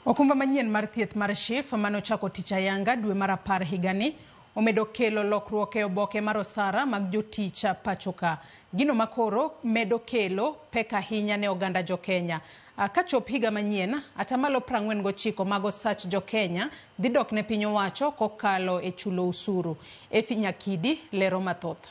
Okumba manyien mar thieth mar SHIF mane ochako tich ayanga dwe mar apar higani omedo kelo lokruok e oboke mar osara mag jotich pachoka. Gino makoro medo kelo pek ahinya ne oganda jokenya. Kachop higa manyien, atamalo prang'wen gochiko mag osach jokenya dhi dok ne piny owacho kokalo e chulo usuru. Efi Nyakidi lero mathoth.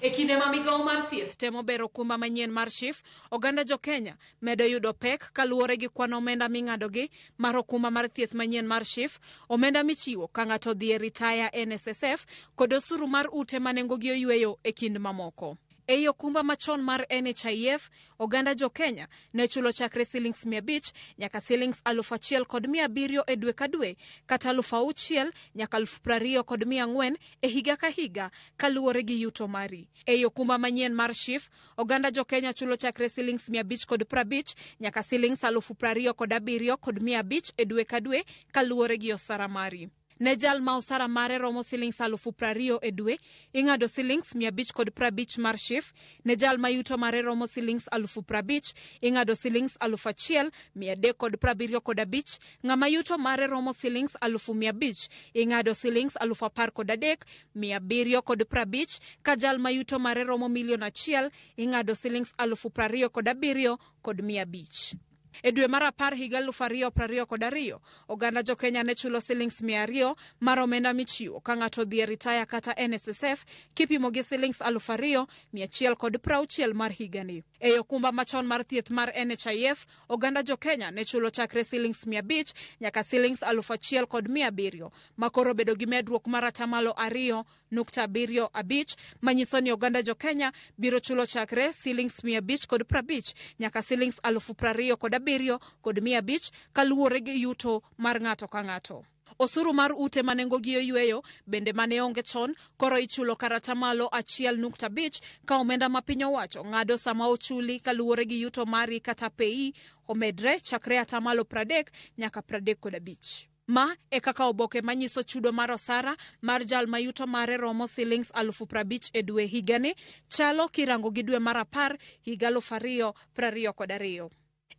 E kinde ma migawo mar thieth temo bero okumba manyien mar SHIF, oganda jo Kenya medo yudo pek kaluwore gi kwan omenda ming'adogi mar okumba mar thieth manyien mar SHIF, omenda michiwo ka ng'ato odhi e ritaya e NSSF, kod osuru mar ute ma nengogi oyueyo e kind mamoko. Ei okumba machon mar NHIF, oganda jo Kenya ne chulo chakre silings mia abich nyaka silings aluf achiel kod mia abiriyo e dwe ka dwe, kata aluf auchiel nyaka aluf prariyo kod mia ang'wen e higa ka higa kaluwore gi yuto mari. Ei okumba manyien mar SHIF, oganda jokenya chulo chakre silings mia abich kod prabich nyaka silings alufu prariyo kod abiriyo kod mia abich e dwe ka dwe kaluwore gi osara mari. Ne jal ma osara mare romo silings alufu prariyo e dwe, ing'ado silings mia abich kod prabich mar SHIF. Ne jal ma yuto mare romo silings alufu prabich, ing'ado silings alufu achiel, mia adek kod prabiriyo kod abich Ng'ama yuto mare romo silings alufu mia abich ing'ado silings alufu apar kod adek mia abiriyo kod prabich ka jal ma yuto mare romo milion achiel ing'ado silings alufu prariyo kod abiriyo kod mia abich. E dwe mar apar higa alufu ariyo prariyo kod ariyo, oganda jo Kenya ne chulo silings mia ariyo mar omenda michiwo ka ng'ato odhi e ritaya kata NSSF kipimo gi silings alufu ariyo mia achiel kod prauchiel mar higani. Ei okumba machon mar thieth mar NHIF, oganda jokenya ne chulo chakre silings mia abich nyaka silings alufu achiel kod mia abiriyo ma koro obedo gi medruok mar atamalo ariyo nukta abiriyo abich manyiso ni oganda jokenya biro chulo chakre silings mia abich kod prabich nyaka silings alufu prariyo kod abiriyo kod mia abich kaluwore gi yuto mar ng'ato ka ng'ato Osuru mar ute ma nengogi oyweyo bende ma ne onge chon koro ichulo kar atamalo achiel nukta abich ka omenda ma piny owacho ng'ado sama ochuli kaluwore gi yuto mari kata peyi omedre chakre atamalo pradek nyaka pradek kod abich. Ma e kaka oboke manyiso chudo mar osara mar jal ma yuto mare romo silings alufu prabich e dwe higani chalo kirango gi dwe mar apar higa alufu ariyo prariyo kod ariyo.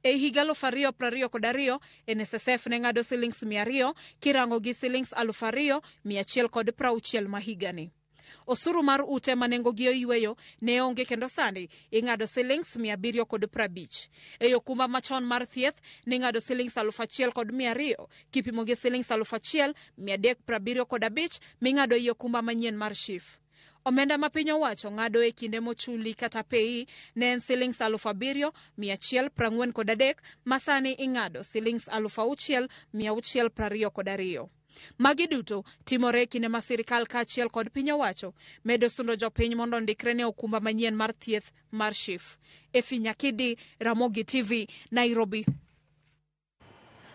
E higa aluf ariyo prariyo kod ariyo, NSSF ne ng'ado silings mia ariyo kirango gi silings aluf ariyo mia achiel kod prauchiel ma higani. Osuru mar ute ma nengogi oyweyo ne onge kendo sani ing'ado silings mia abiriyo kod prabich. E okumba machon mar thieth ning'ado silings aluf achiel kod mia ariyo kipimo gi silings aluf achiel mia adek prabiriyo kod abich ming'ado ei okumba manyien mar SHIF. Omenda ma piny owacho ng'ado e kinde mochuli kata peyi ne en silings aluf abiriyo mia achiel prang'wen kod adek ma sani ing'ado silings aluf auchiel mia auchiel prariyo kod ariyo. Magi duto timore e kinde ma sirkal kaachiel kod piny owacho medo sundo jopiny mondo ondikre ne okumba manyien mar thieth mar SHIF. Effie Nyakidi, Ramogi TV, Nairobi.